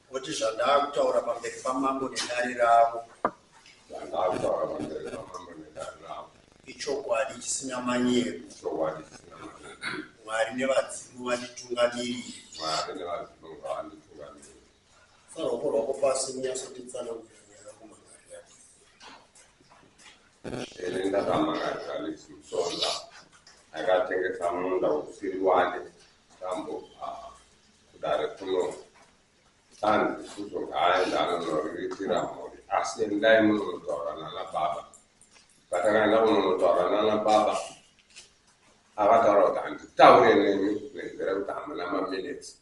Kuti zvandakutaura pamberi pamambo nedari ravo zvandakutaura pamberi pamambo nedari ravo ichokwadi chisina manyepo ichokwadi chisina manyepo mwari nevadzimu vanditungamiriri mwari nevadzimu vanditungamiriri Sa ruoko rwako pasi unyatsonditsanangurira nyaya yangu Margaria. Ere ndaramba kaGalis Musonda akatengesa munda usiri wake ndambobva kudare kuno tanzi Suzo ngaaende anonoriritira mhuri asi endai munonotaura nana baba. Patakaenda kunonotaura nana baba akataura kuti handitaure nemi nenzira yekuti hamuna maminitsi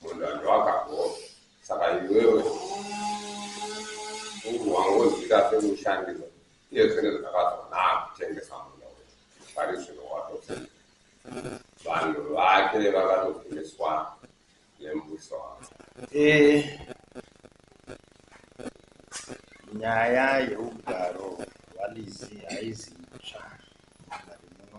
Munhu anova akabhoo saka iwewe ungu wangonzwika semushandiro iye zvinenge zvakazonaka kutengesa munda uyu pari zvino watopfeka vanhu vake vakatogumiswa nembuso wavo Eh, nyaya yeugaro hwaLizzy haizi itsva mudare muno.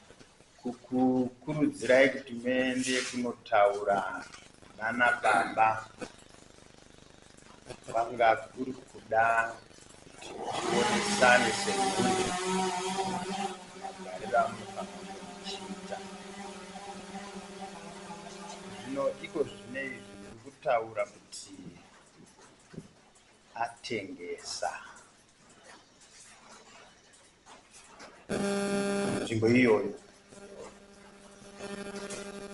kukukurudzirai kuti muende kunotaura nana baba vanga kuri kuda kuti tionesane semhuri magariro amunofanira zvino iko zvine izvi ndiri kutaura kuti atengesa nzvimbo iyoyo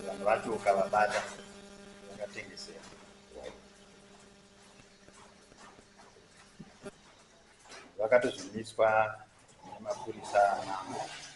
vanhu vacho ukavabata vakatengesera vakatozvimiswa nemapurisa anamo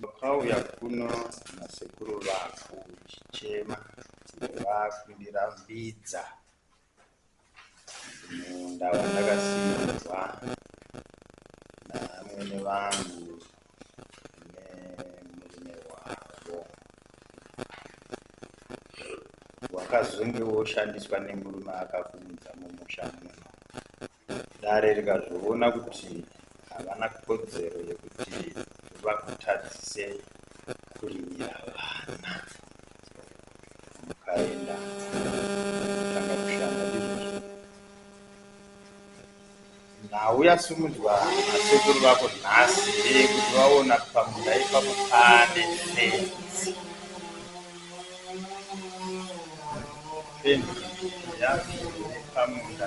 Vakauya kuno nasekuru vako uchichema vakuindira mbidza munda wandakasiirwa namwene vangu nemurume wavo wakazonge woshandiswa nemurume akakuunza mumusha muno Dare rikazviona kuti havana kodzero yekuti vakutadzise kurimira vana mukaenda kutanga kushanda ndizvozvo nhau yasimudzwa nasekuru vako nhasi ndeyekuti vaona pamunda ipapo pane fenzi fenzi yacho pamunda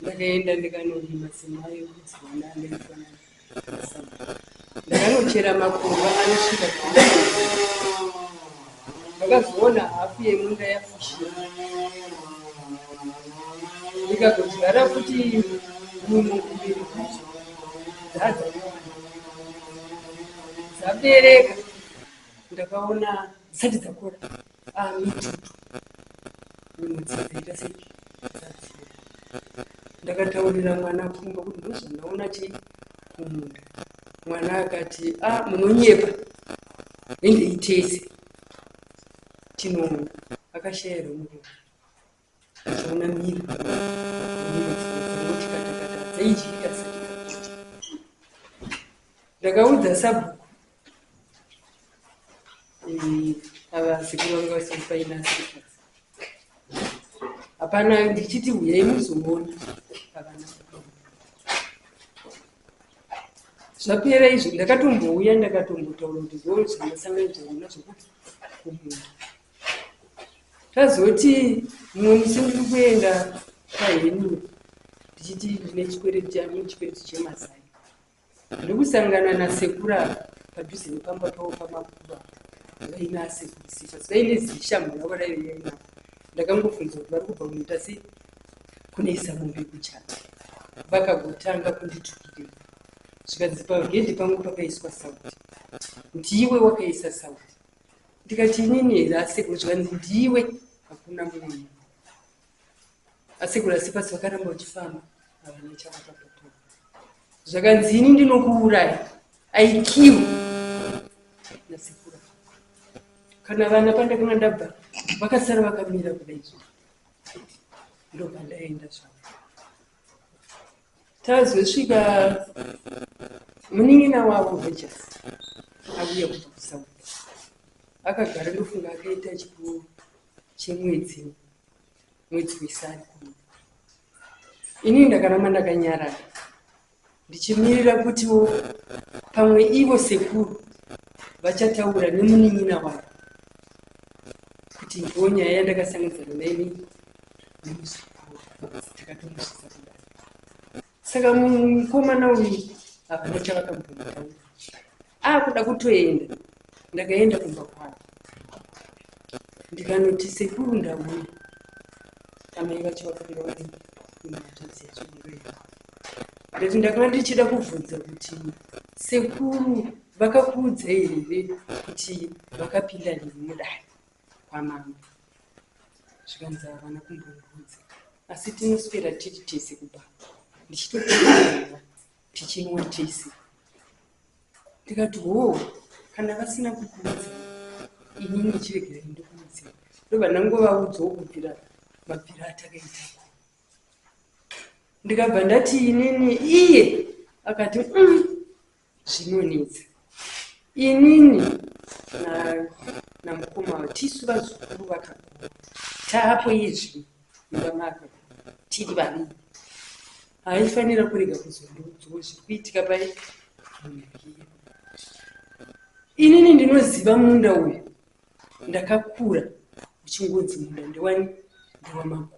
ndakaenda ndikanorima semai yekudzi vana andaifana ndakanochera makomba anosvika ndakazoona hafu yemunda yafushira ndikagodyara kuti munhu mbiri kuti dzadza dzabereka ndakaona dzisati dzakora Ndakataurira mwana pfungwa kuti ndozondaona chii kumunda. Mwana akati ah munonyepa ende itese tinoona akashaya romurume. Ukazoona mhiri pamwe nemhiri dzimwe dzingoti katakata dzaidyika dzisati dzapota. Ndakaudza sabhuku eh, ava sekuru vanga vasiri paina sekuru hapana ndichiti huyai muzomuona pavana zvapera izvo ndakatombouya ndakatombotaura kuti zvoona zvandasangana zvona zvokuti kumunda Tazoti mumwe musi ndiri kuenda kwaHenry ndichiti ndine chikwereti changu chikwereti chemazai. Ndiri kusangana nasekuru ava padhuze nepamba pavo pamakuva vaina asekuru Sifas vaine zishamhu ravo raive navo. Ndakangobvunza kuti vari kubva kunoita sei kunoisa mombe kuchata. Vakagotanga kunditukirira zvikanzi pagedhi pangu pakaiswa sauti kuti iwe wakaisa sauti. ndikati inini asekuru zvikanzi ndiwe hakuna mumwe asekuru asi pasi vakaramba uchifamba havana chavakapapa zvakanzi ini ndinokuuraya aikiwe nasekuru kana vana pandakanga ndabva vakasara vakamira kudaizvo ndopandaenda zvavo Tazosvika munin'ina wavo Rogers avuya kubva kuSouth. Akagara ndofunga akaita chikuru chemwedzi mwedzi wesari kuno. Ini ndakaramba ndakanyarara ndichimirira kutiwo pamwe ivo sekuru vachataura nemunin'ina wavo kuti ndiwo nyaya yandakasangidzana naini saka mukomana uyu hapana chavakambonaa akuda kutoenda ndakaenda kumba kwavo ndikanoti sekuru ndauya amai vacho vakabira vari kumatadzi yachirurema ndati ndakanga ndichida kubvunza kuti sekuru vakakuudza here kuti vakapinda nemudai kwamambo zvikanzi havana kumbondiudza asi tinoswera tiri tese kubaba ndichitoaa tichinwa tese ndikati hoo kana vasina kukuudza ini ndichiregerai ndikuudze ndobva ndangovaudzawo kubvira mabvira atakaitako ndikabva ndati inini iye akati mm, zvinonetsa inini namukoma na tisu vazukuru vakakura taapo izvi mumba makakura tiri vaviri haifanira kurega kuzondiudzwa zviri kuitika pai inini ndinoziva munda uyu Ndakakura uchingonzi munda ndewani ndewamagogo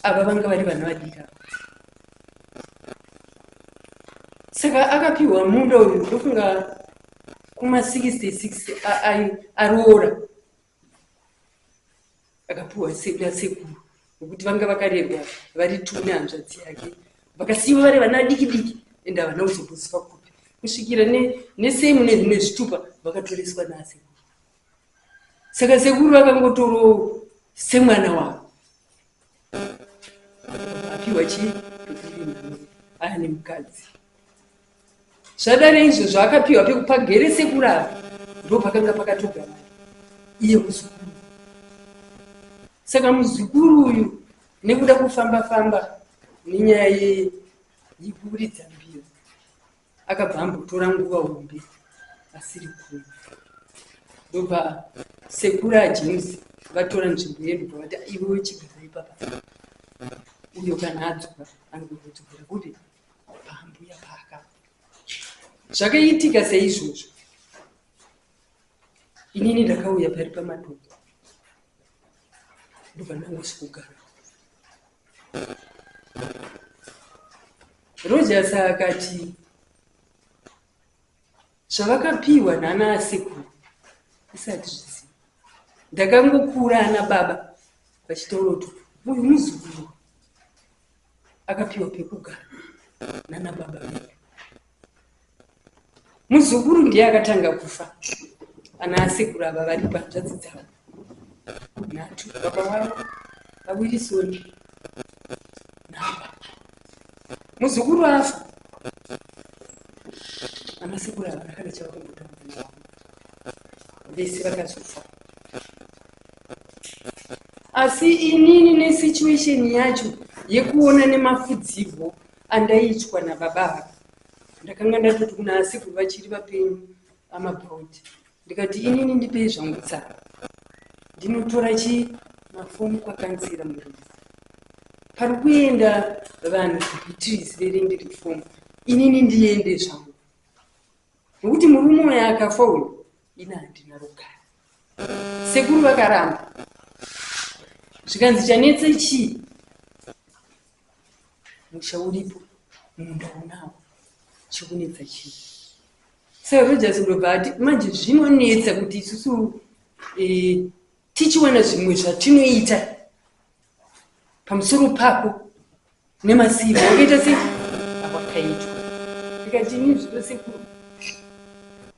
ava vanga vari vana vadiki ava saka akapiwa munda uyu ndofunga kuma 66 aroora akapiwa nasekuru nokuti vanga vakarerwa vari two nehanzvadzi yake vakasiiwa vari vana vadiki diki ende havana kuzomboziva kupi kusvikira nesame nezvitupa vakatoreswa naasekuru saka sekuru vakangotoro semwana wavo apiwa chii ane mukadzi Zvadare izvozvo akapiwa pekupagere sekurara ndopakanga pakatogara iye muzukuru. Saka muzukuru uyu nekuda kufamba famba nenyaya yekuridza mbira akabva ambotora nguva hombe asiri kuno. Ndobva sekuru aJames vatora nzvimbo yedu vati iwe chigara ipapa uyo kana adzoka anogona kudzokera kupi. paambuya paaka zvakaitika seizvozvo inini ndakauya pari pamatombo ndovanangosi kugara rogers akati zvavakapiwa nana asekuru isati zviziva ndakangokura ana baba vachitoroto uyu muzukuru akapiwa pekugara nana baba vedu muzukuru ndiye akatanga kufa ana asekuru ava vari panzvadzi dzavo nhatu baba wavo vawirisoni naba muzukuru afa ana sekuru ava vakada chavakumbotaura vese vakazofa asi inini nesituation yacho yekuona nemafudzivo andaiitwa nababa ava ndakanga ndatoti kuna asekuru vachiri vapenyu amabrod ndikati inini ndipei zvangu tsara ndinotora chi mafomu kwakanzira muruu pari kuenda vanhu kubeatrice verindi refomu inini ndiende zvangu nokuti murume uyo akafa uyu Ini handina rugare. Sekuru vakaramba. Zvikanzi chanetsa chii? Musha uripo, munda unawo. Chikunetsa chii? Sir Rogers ndobva ati manje zvinonetsa kuti isusu eh, tichiwana zvimwe zvatinoita pamusoro pako nemasimba wakaita se awakaitwa ndikati ini zvido sekuru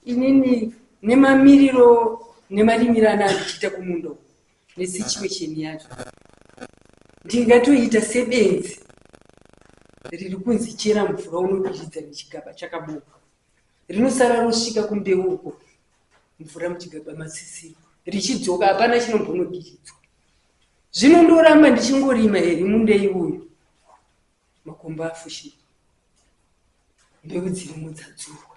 inini nemamiriro nemarimiro ana andichiita kumundo nesituation yacho ndingatoita sebenzi riri kunzi chera mvura unobiridza nechigaba chakabuka rinosara rosvika kumbeu uko mvura muchigaba masisiro richidzoka hapana chinombonodiridzwa Zvino ndoramba ndichingorima here mundei uyu makomba afushira mbeu dzirimo dzadzurwa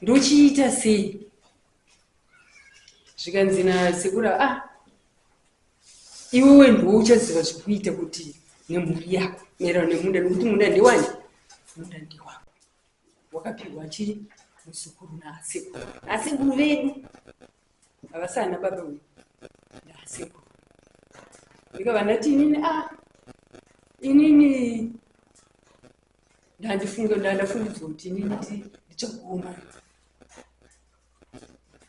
ndochiita sei zvikanzi nasekura a ah, iwewe ndiwo uchaziva zvekuita kuti nemhuri yako maererano nemunda nekuti munda ndewani munda ndewako wakapihwa chii muzukuru naasekuru asekuru vedu Havasi ana baba uyu. Ndaseko. Ndiko vandati inini ah inini ndandifunga ndandafungidzwa kuti inini ti ndichaguma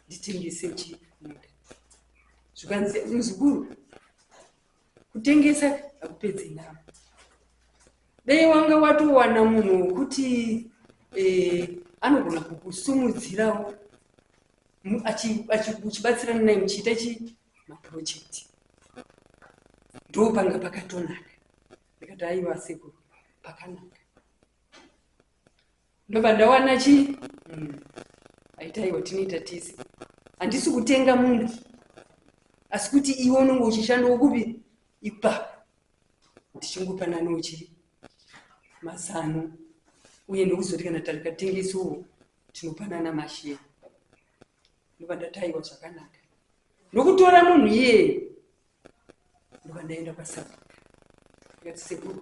nditengese chi muda. Zvikanzi muzukuru kutengesa hakupedzi navo. Dei wanga watowana munhu wokuti eh, anogona kukusumudzirawo muchibatsirana naye muchiita chi maproject ndo panga pakatonaka ndikati aiwa sekuru pakanaka ndobva ndawana chi mm. aita aiwa tinoita tese handisi kutenga munhu asi kuti iwe unenge uchishandawo kupi ipapo ndichingopananochi mazano uye ndokuzoti kana tarikatengesawo tinopanana masheya ndobva ndataiwa zvakanaka ndokutora munhu iyeye ndobva ndaenda kwasabu ndikati sekuru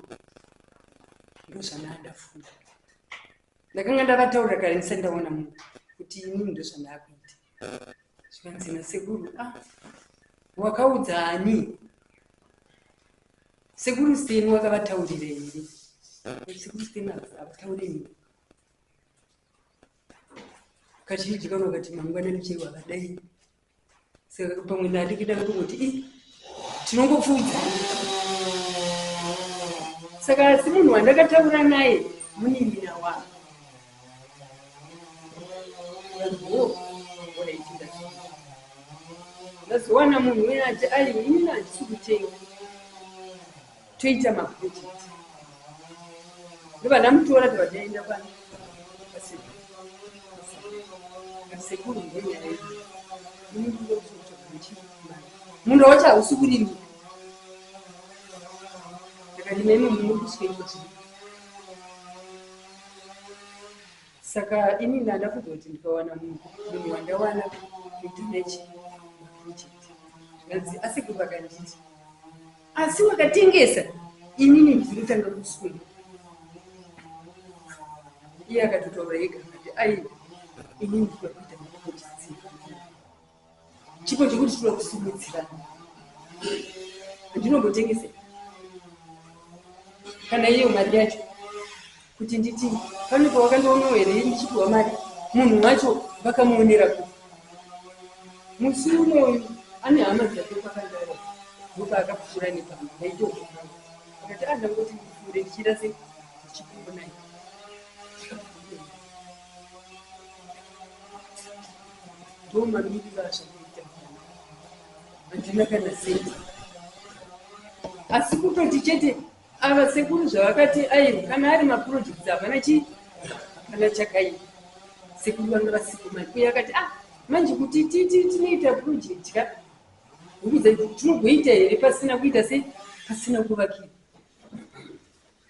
ndozvandaandafunda ndakanga ndavataura kare ndisati ndaona munhu kuti ini ndozvandaakuita zvikanzi nasekuru a ah, wakaudza ani sekuru seni wakavataurirei sekuru seni avataure nyika kazhinji vamwe vati mangwanani chero akadai saka pamwe ndandikida kutongoti i tinongopfuudza saka asi munhu wandakataura naye munin'ina wangu ndazowana munhu uye ati aiwe ini handisi kutenga Toita ma project ndovana mutora tovadainda pano pasekuru sekuru ngenyaya yedu munhu wacho hausi kurimika akarima imo munhu uri kusvika imo chii saka ini ndanda kuda kuti ndikawana munhu munhu wandawana kuti nechi project zvikanzi asekuru vakanditi Asi makatengesa inini ndinotanga kuswera. Iye akatotaura ega akati aiwa inini ndikuda kuita chipo chetsika. Chipo chekuti tinoda kusimudzirana. Handinombotengese kana iyo mari yacho. Kuti nditi pane pawakandionawo here ndichipiwa mari munhu wacho vakamuonera kupi. Musi umwe uyu ane hama dzake kwakandauya ndopaakapfuura nepamba ndaitoona hangu akati ah ndangoti ndipfuure ndichiita sei ndichikuonai ndomamirira zvakaita handina kana senti asi kutoti chete Ava sekuru zvavakati aiwa kana ari maprojects havana chi hapana chakaipa sekuru vanga vasipo mari uye akati ah manje kuti titi tinoita project ka huku dzedu tinogoita here pasina kuita sei pasina kuvakira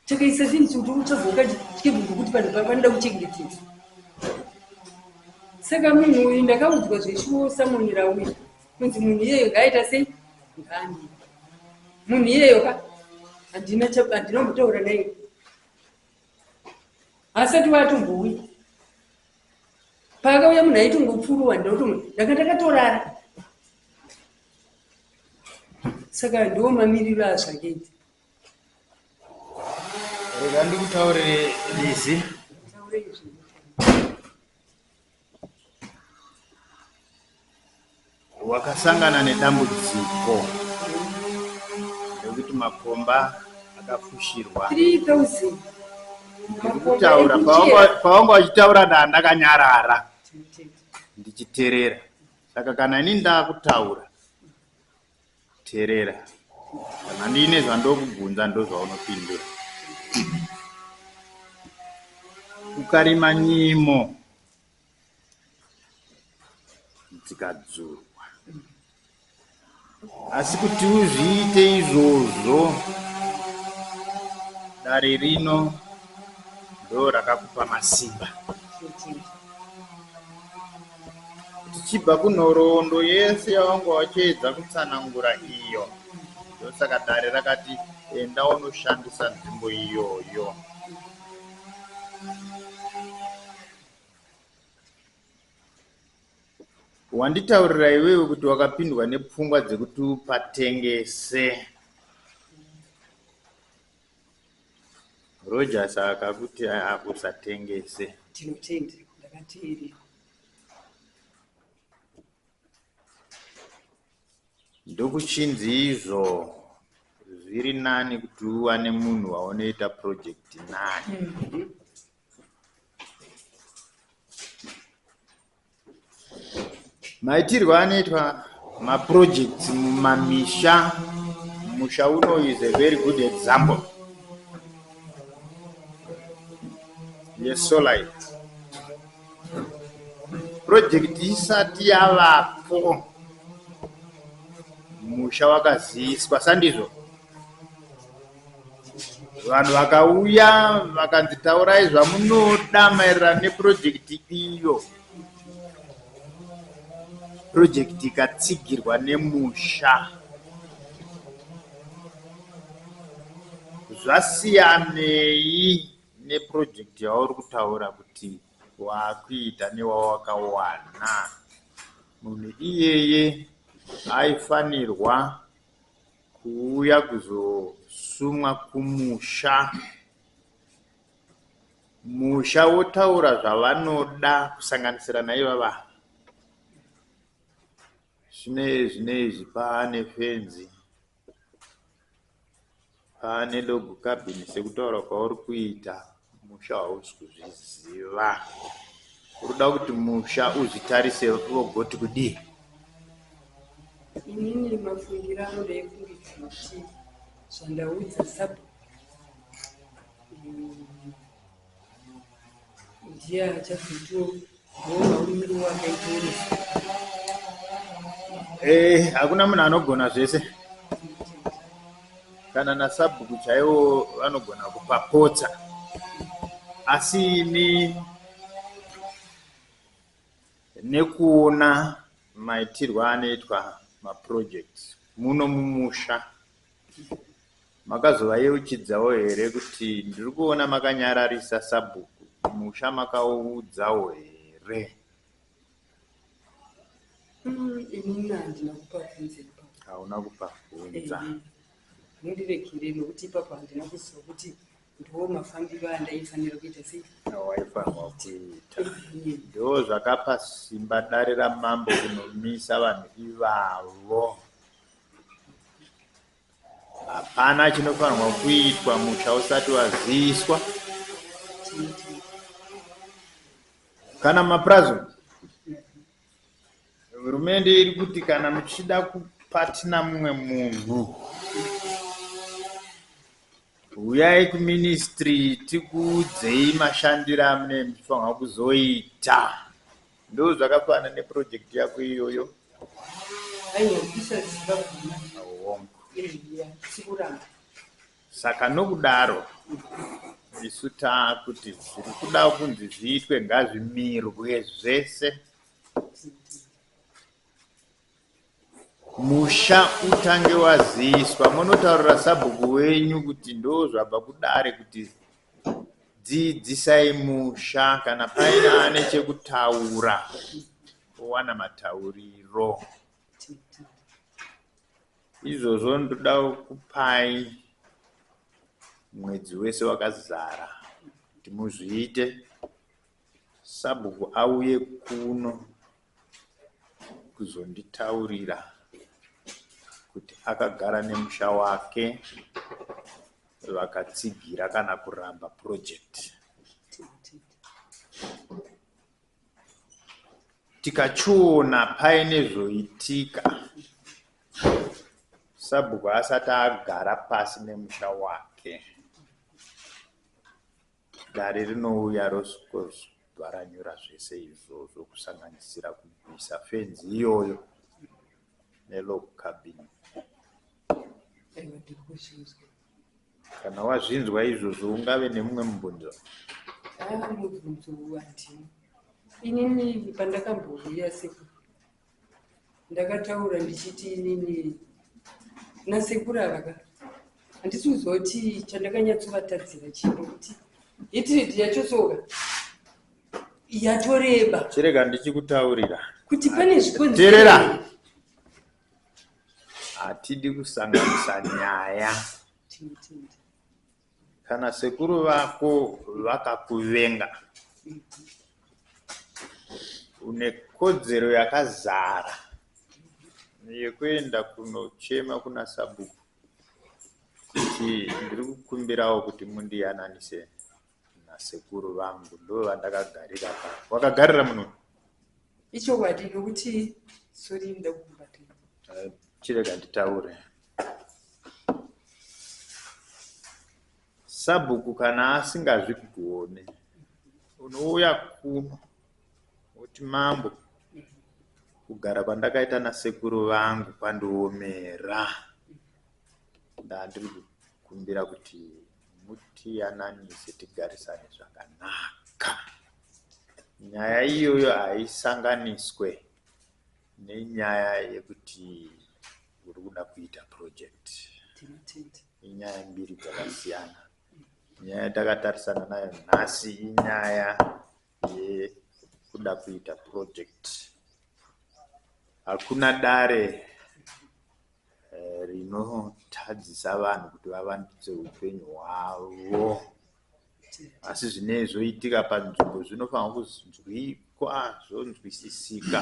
takaisa zvinhu kuti uchagoka chikebvungu kuti vanhu vanoda kuchengetedza saka munhu uyu ndakaudzwa zveshuwo samonera uyu kunzi munhu iyeyo ngaaita sei ngaani munhu iyeyo ka handina handina kumbotaura naye asati watombouya paakauya munhu aitongopfuruwa ndinoto ndanga ndakatorara saka ndiwo mamiriro azvakaita rega ndikutaurire lizi Wakasangana nedambudziko rekuti makomba akafushirwa. Ndikutaura pawanga wachitaura ndaa ndakanyarara ndichiterera saka kana ini ndakutaura Terera. Kana ndiine zvandokubvunza ndozvaunopindura. Ukarima nyimo dzikadzurwa. Asi kuti uzviite izvozvo dare rino ndo rakakupa masimba. Tichibva kunhoroondo yese yawanga wachiedza kutsanangura iyo, ndosaka dare rakati enda unoshandisa nzvimbo iyoyo. Wanditaurira iwewe kuti wakapindwa nepfungwa dzekuti upatengese. Roger saka kuti usatengese. Tinotenda ndakateerera. Ndokuchinzi izvo zviri nani kuti uwane munhu waunoita project naye. Mm -hmm. Maitirwo anoitwa maprojects mumamisha musha uno is a very good example yesolite project isati yavapo musha wakaziiswa sandizvo vanhu vakauya vakanzi taurai zvamunoda maererano nepurojekiti iyo purojekiti ikatsigirwa nemusha zvasiyanei nepurojekiti yauri kutaura kuti waakuita newawakawana munhu iyeye aifanirwa Kuuya kuzosumwa kumusha. Musha wotaura zvavanoda kusanganisira naivava. Zvinei zvinei zvipa ane fenzi. Haa nedog cabin sekutaura kwauri kuita musha hausi kuzviziva urikuda kuti musha uzvitarise vogoti kudii inini mafungira anoda ekundidzima kuti zvandaudza sub Ndiye achazotiongorora urimi rwowakaita urufu. Eh, hakuna munhu anogona zvese. Kana nasabhuku chaiwo vanogona kupapotsa. Asi ini nekuona maitirwo anoitwa maprojects muno mumusha Makazovayeuchidzawo here kuti ndiri kuona makanyararisa sabhuku kumusha makavaudzawo here. Umm inini handina kupavhunza ipapo. Hauna kupavhunza. Ehe mundiregerere nokuti ipapo handina kuziva kuti ndiwo mafambiro andaifanira kuita sei. Awaifanirwa kuita. Ehe. Ndoo zvakapa simba dare ramambo kunomisa vanhu ivavo. Hapana chinofanirwa kuitwa musha usati waziiswa. Kana mapurazi hurumende iri kuti kana muchida kupatina mumwe munhu huyai kuministry tikuudzei mashandiro amune muchifanirwa kuzoita. Ndo zvakafana ne project yako iyoyo. Aiwa kuisa ziva guma. Awongo. Eya, sikuramba. Saka nokudaro isu taakuti zviri kuda kunzi zviitwe ngazvimirwe zvese. Musha utange waziiswa monotaurira sabhuku wenyu kuti ndozvabva kudare kuti dzidzisai musha kana paine ane chekutaura owana matauriro izvozvo ndoda kupai mwedzi wese wakazara kuti muzviite sabhuku auye kuno kuzonditaurira kuti akagara nemusha wake vakatsigira kana kuramba project tikachiona paine zvoitika sabhuku asati agara pasi nemusha wake Dare rinouya rosvikozvaranyura zvese izvozvo kusanganisira kubvisa fenzi iyoyo nelog cabin. Kana wazvinzwa izvozvo ungave nemumwe mubvunzo? Haa mubvunzo uwu handina. Inini pandakambouya seku ndakataura ndichiti inini nasekuru ava ka handisi kuziva kuti chandakanyatsovatadzira chii nokuti hitiriti yachosoka yatoreba chirega ndichikutaurira kuti pane zvikonzerera hatidi kusanganisa nyaya Kana sekuru vako vakakuvenga une kodzero yakazara yekuenda kunochema kuna sabhuku kuti ndiri kukumbirawo kuti mundiyananise nasekuru vangu ndo vandakagarira pa wakagarira muno ichokwadi nokuti sori ndokubatira chirega nditaure Sabhuku kana asingazvigone unouya kuno woti mambo kugara kwandakaita nasekuru vangu kwandiomera ndandiri kukumbira kuti mutiyananise tigarisane zvakanaka nyaya iyoyo haisanganiswe nenyaya yekuti uri kuda kuita project inyaya mbiri dzakasiyana nyaya yatakatarisana nayo nhasi inyaya yekuda kuita project hakuna dare eh, rinotadzisa vanhu kuti vavandudze upenyu hwavo asi zvinee zvoitika panzvimbo zvinofanirwa kunzwikwa zvonzwisisika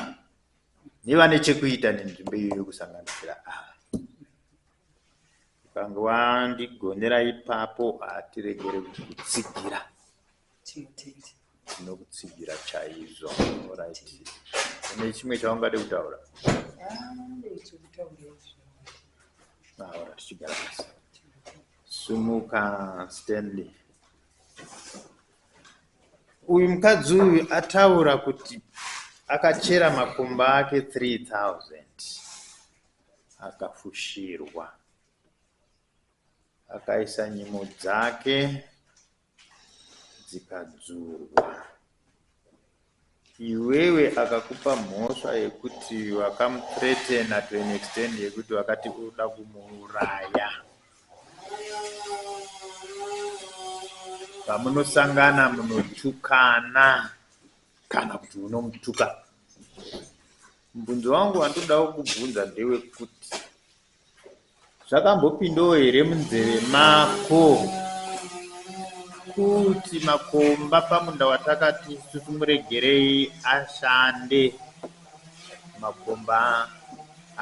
nevane chekuita nenzvimbo iyoyo kusanganisira ava ukange wandigonera ipapo hatiregere kukutsigira tinokutsigira chaizvo orit ine chimwe chaungade kutaura ah, aora tichigara pasi Sumuka Stanley. Uyu mukadzi uyu ataura kuti akachera makumba ake 3000 akafushirwa akaisa nyimo dzake dzikadzurwa. Iwewe akakupa mhosva yekuti wakamuthreatener to an extent yekuti wakati uri kuda kumuuraya. Pamunosangana munotukana kana kuti unomutuka. Mubvunzo wangu wandinoda kukubvunza ndewekuti. Zvakambopindawo here munzeve mako kuti makomba pamunda watakati isusu muregerei ashande makomba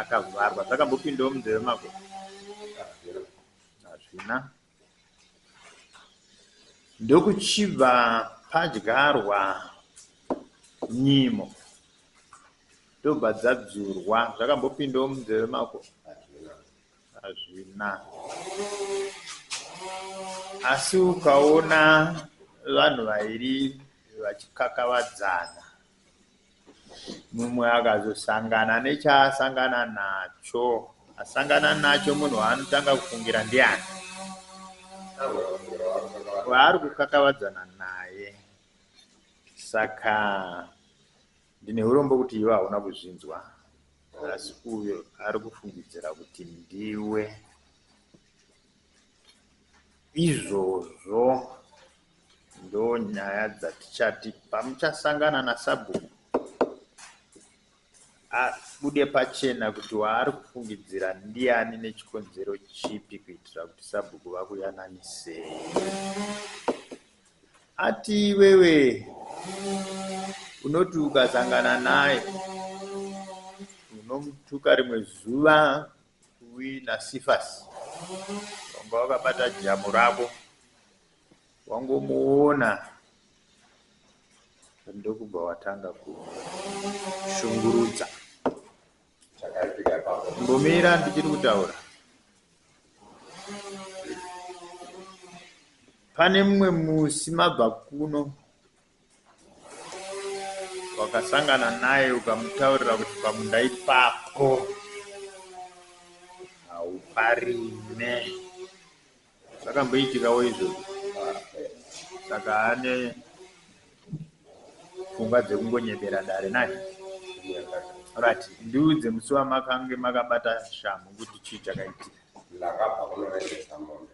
akavharwa zvakambopindawo munzeve mako hazvina ndokuchibva padyarwa nyimo ndobva dzadzurwa zvakambopindawo munzeve mako hazvina asi ukaona vanhu vairi vachikakavadzana Mumwe akazosangana nechaasangana nacho. Asangana nacho munhu waanotanga kufungira ndiani? Waari kukakavadzana naye. Saka ndine urombo kuti iwe hauna kuzvinzwa, asi uyo ari kufungidzira kuti ndiwe. Izvozvo ndonyaya dzatichati pamuchasangana nasabhuku abude pachena kuti waari kufungidzira ndiani nechikonzero chipi kuitira kuti sabhuku vakuyananisei. Ati iwewe unoti ukasangana naye unomutuka rimwe zuva Uwi na Sifas wanga wakabata jamu rako wangomuona ndokubva watanga kushungurudza. Chakaitika ipapo. Mbomira ndichiri kutaura. Pane mumwe musi mabva kuno wakasangana naye ukamutaurira kuti pamunda ipapo hauparime zvakamboitikawo izvozvo saka ane pfungwa dzekungonyebera dare nani rat ndiudze musi wamakange makabata shamhu kuti chii chakaitika ndakabva kunoendesa mombe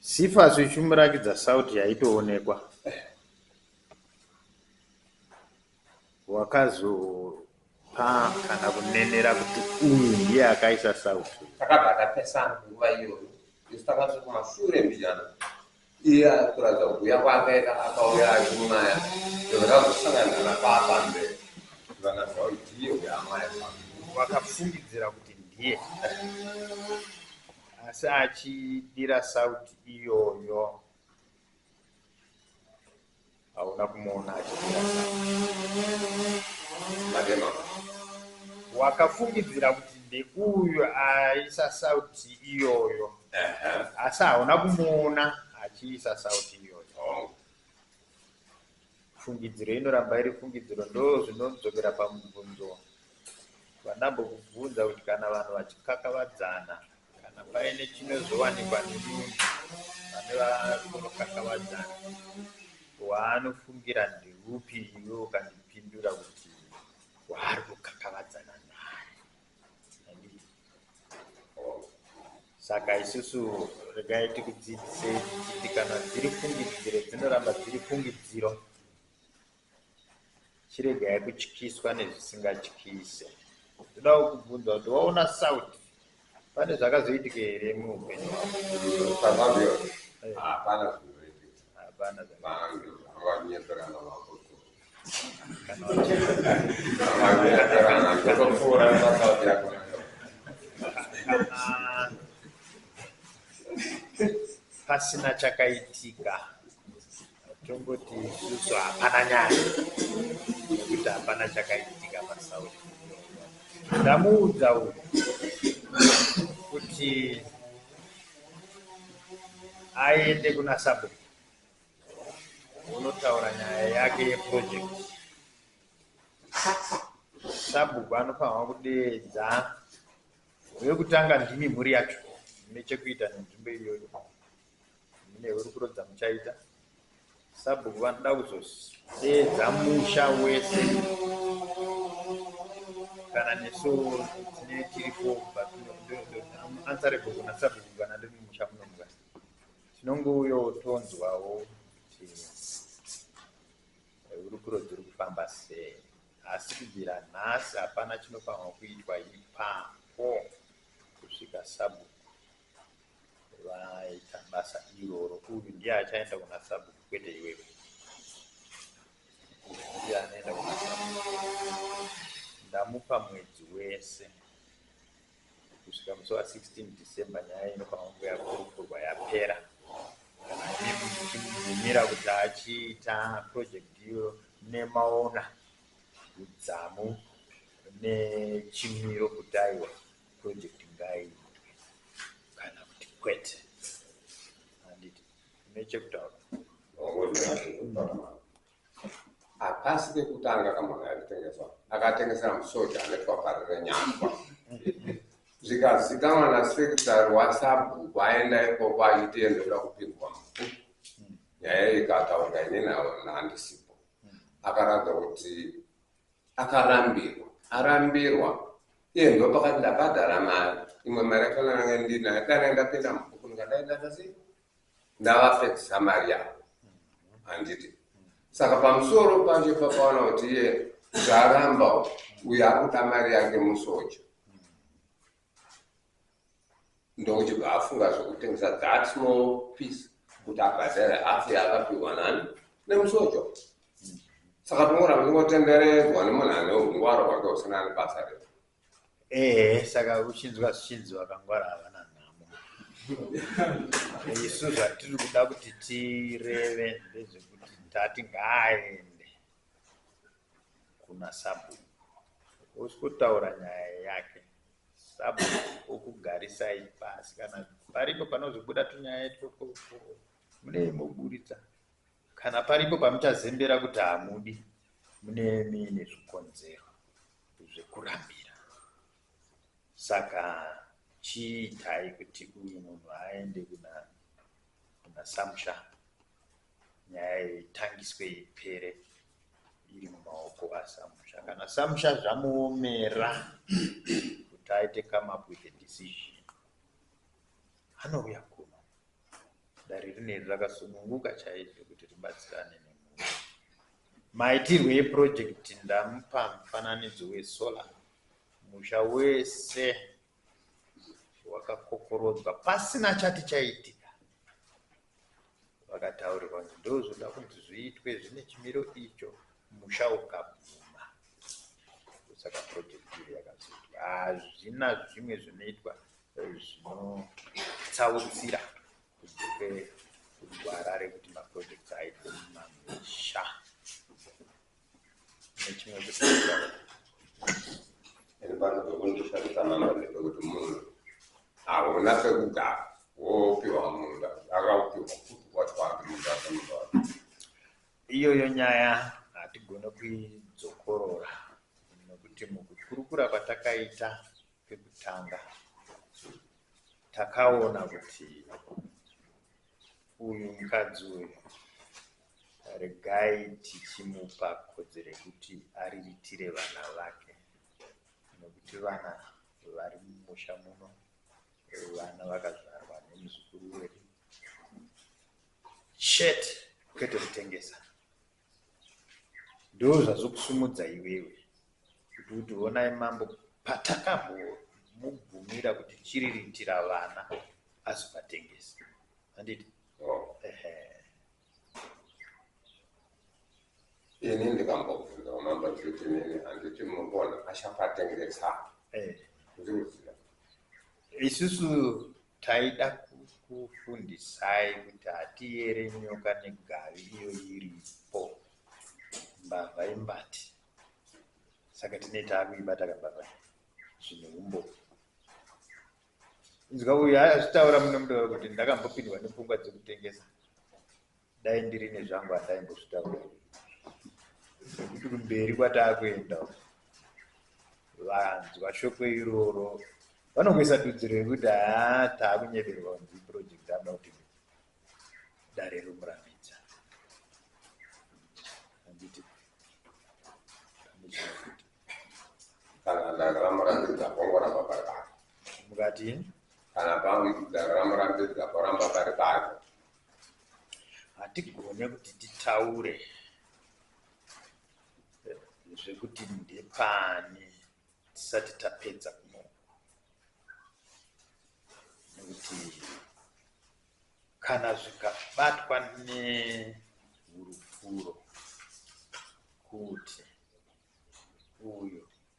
Sifas uchimurakidza sauti yaitoonekwa wakazopa kana kunenera kuti uyu ndiye akaisa sauti. Takabva tapesana nguva iyoyo isu takasvika kumashure mbijana Iye ari kuratidza kuuya kwake ka akauya achimwaya zvinhu zvakazosangana napapa mberi vakaziva kuti ndiye uyo amwaya vakafungidzira kuti ndiye asi achidira sauti iyoyo Hauna kumuona achimira zvacho. Wakafungidzira kuti ndeuyo aisa sauti iyoyo asi hauna kumuona achiisa sauti iyoyo. Fungidziro inoramba iri fungidziro ndozvinodzokera pamubvunzo vanambokubvunza kuti kana vanhu vachikakavadzana Kana paine chinozowanikwa nemunhu pane vari kunokakavadzana, waanofungira ndeupi iwe ukandipindura kuti waari kukakavadzana naye? Handiti? Oh. Saka isusu regai tikudzidzisei tichiti kana dziri fungidziro dzinoramba dziri fungidziro. Chiregai kutyiswa nezvisingatyise. Ndodawo kubvunza kuti waona South pane zvakazoitika here muupenyu hwako? Hapana zvinoitika. Hapana zvakazoitika. Vanyengerana mapoto. Kana vanyengerana ndokupfuura South yako. Pasina chakaitika. Tomboti isusu hapana nyaya nekuti hapana chakaitika pasauri ndamuudza uyu kuti aende kuna sabo unotaura nyaya yake yeproject sabhuku anofanirwa kudeedza wekutanga ndimi mhuri yacho mune chekuita nenzvimbo iyoyo mune hurukuro dzamuchaita sabhuku vanoda kuzodeedza musha wese kana nesu tine tiripo answerable kuna sabhuku kana ndiri mumusha munomuka tinongouyo tonzwawo kuti eh, hurukuro dziri kufamba sei asi kubvira nhasi hapana chinofanirwa kuitwa ipapo kusvika sabhuku vaita basa iroro uyu ndiye achaenda kuna sabhuku kwete iwewe ndiye anoenda kuna ndamupa mwedzi wese kusvika musi wa 16 december nyaya inofanira kunge yakurukurwa yapera chimira kuti achiita project iyo nemaona udzamu nechimiro kutaiwa project ngaiitwe kana kuti kwete handiti une chekutaura hapasi kekutanga kamunhu aitengeswa akatengesera musoja anetwaparire nyangwa zvikazikanwa nasekitari wasabhuku aenda ikoko achiti endoda kupindwa muku nyaya ikataurwa inini handisipo akaramba kuti akarambirwa arambirwa iye ndopakati ndabhadhara mari imwe mari yakona nanga ndinayo dana ndapinda mubhuku ndikadaidata sei ndavapedzisa mari yavo handiti saka pamusoro pacho pakaona kuti iye zvaramba uyo akuda mari yake musoja ndokuchibva afunga zvekutengesa that small piece kuti abhadhare half yaakapihwa nani nemusojo saka tongoramba tingotenderedzwa nemunhu ane ungwaro hwake usina ane basa re ehe saka uchinzwa zvichinzi vakangwara havana nhamo isu zvatiri kuda kuti tireve ndezvekuti ndati ngaaende kuna sabhuku oskotaura nyaya yake sabhuku okugarisai pasi kana paripo panozobuda tunyaya itoko munei moburitsa kana paripo pamuchazembera kuti hamudi mune mine zvikonzero zvekurambira saka chiitai kuti uyu munhu aende kuna kuna samusha nyaya iyi itangiswe ipere iri mumaoko asamusha kana samusha zvamuomera kuti aite come up with a decision anouya kuno dare rineri rakasununguka chaizvo kuti ribatsirane nemhuri maitirwe eprojekti ndamupa mufananidzo wesolar musha wese wakakokorodzwa pasina chati chaitika vakataurirwa kuti ndozvoda kuti zviitwe zvine chimiro icho musha ukabvuma saka project iyo yakazoitwa hazvina zvimwe zvinoitwa eh, zvinotsautsira kunze kwekugwara rekuti maprojects aitwe mumamisha nechimwe kusiira iri pano pekundishandisa mama ndepekuti munhu hauna pekugara wopiwa munda akaupiwa futi kwatwake munda wake munda wake iyoyo nyaya hatigone kuidzokorora nekuti mukukurukura kwatakaita pekutanga takaona kuti uyu mukadzi uyu regai tichimupa kodzero yekuti ariritire vana vake nekuti vana vari mumusha muno vana vakazvarwa nemuzukuru wedu shet kwete kutengesa Ndozvazokusimudza iwewe kuti uti honai mambo patakambomubvumira kuti chiriritira vana azovatengesa handiti oh. ini ndikambobvunza mambo ndikuti nini handiti munogona achavatengesa eh. ndikuziva isusu Taida kukufundisai kuti hatiyere nyoka negavi iyo iripo. Mbavha imbati. Saka tine taakuibata kambavha zvine humbofu. Inzwa uyu azvitaura muno mutaura kuti ndakambopindwa nepfungwa dzekutengesa Dai ndiri nezvangu handaimbozvitaura nekuti kumberi kwataakuenda vanzwa shoko iroro vanongoisa dudziro yekuti haa taakunyeberwa kunzi project anoda kuti dare romurambidza anditi kana dare ramurambidza pongoramba pari pako mukati kana pamwe dare ramurambidza poramba pari pako Hatigone kuti titaure zvekuti ndepani tisati tapedza kunoku nekuti kana zvikabatwa nehurupuro kuti uyu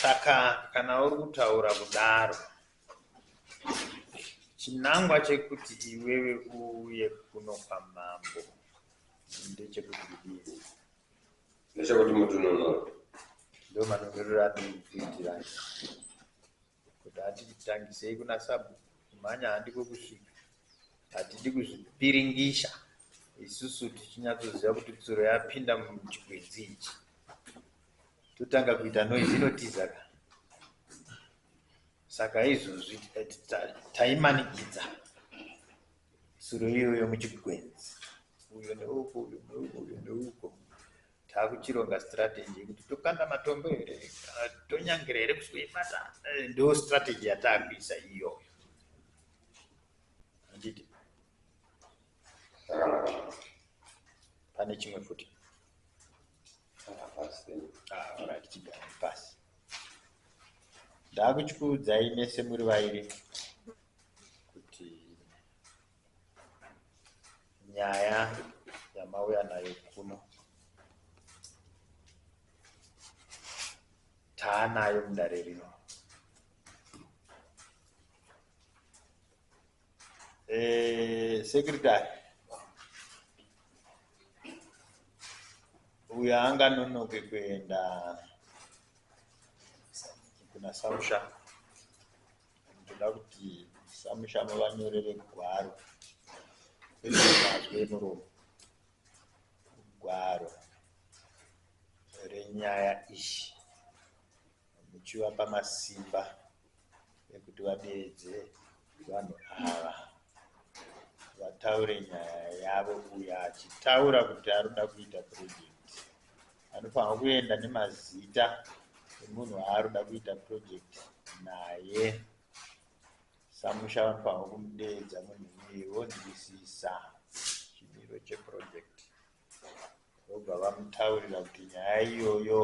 saka kana uri kutaura kudaro chinangwa chekuti iwewe uuye kuno kwamambo ndechekuti kudii ndechekuti mutununuro ndo manunuriro atiri kukuitira Kuti hatidi tangisei kuna sabhuku kumhanya handiko kusvika. Hatidi kuzvipiringisha isusu tichinyatsoziva kuti tsuro yapinda muchigwenzi ichi. Totanga kuita noise inotiza ka. Saka izvozvi taimanikidza tsuro iyoyo muchigwenzi. Uyo neuko uyo neuko uyo neuko. Takuchironga strategy yekuti tokanda matombo here kana tonyangira here kuzoibata eh, ndo strategy yatakuisa iyoyo handiti pane chimwe futi ah, chigare pasi ndakuchikuudzai mese muri vairi nyaya yamauya nayo kuno taanayo mudare rino eh, secretary uyo anganonoke kuenda kuna samusha Ndoda kuti samushama vanyorere gwaro ezvemazwi emuromo gwaro renyaya iyi muchivapa masimba ekuti vadeedze vanhu ava vataure nyaya yavo uyo achitaura kuti anoda kuita project Anofanirwa kuenda nemazita emunhu waari kuda kuita project naye. Samusha vanofanirwa kumudeedza munhu iyeye vonzwisisa chimiro cheproject vobva vamutaurira kuti nyaya iyoyo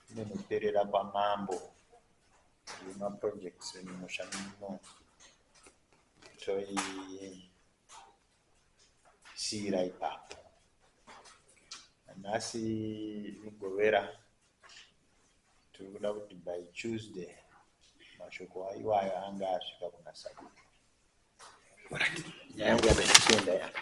inonoperera kwamambo yemaprojects emumusha muno toii siira ipapo nhasi mugovera tiri kuda kuti by tuesday mashoko iwayo anga asvika kuna sabhuku nyaya yangu yabaichienda yaka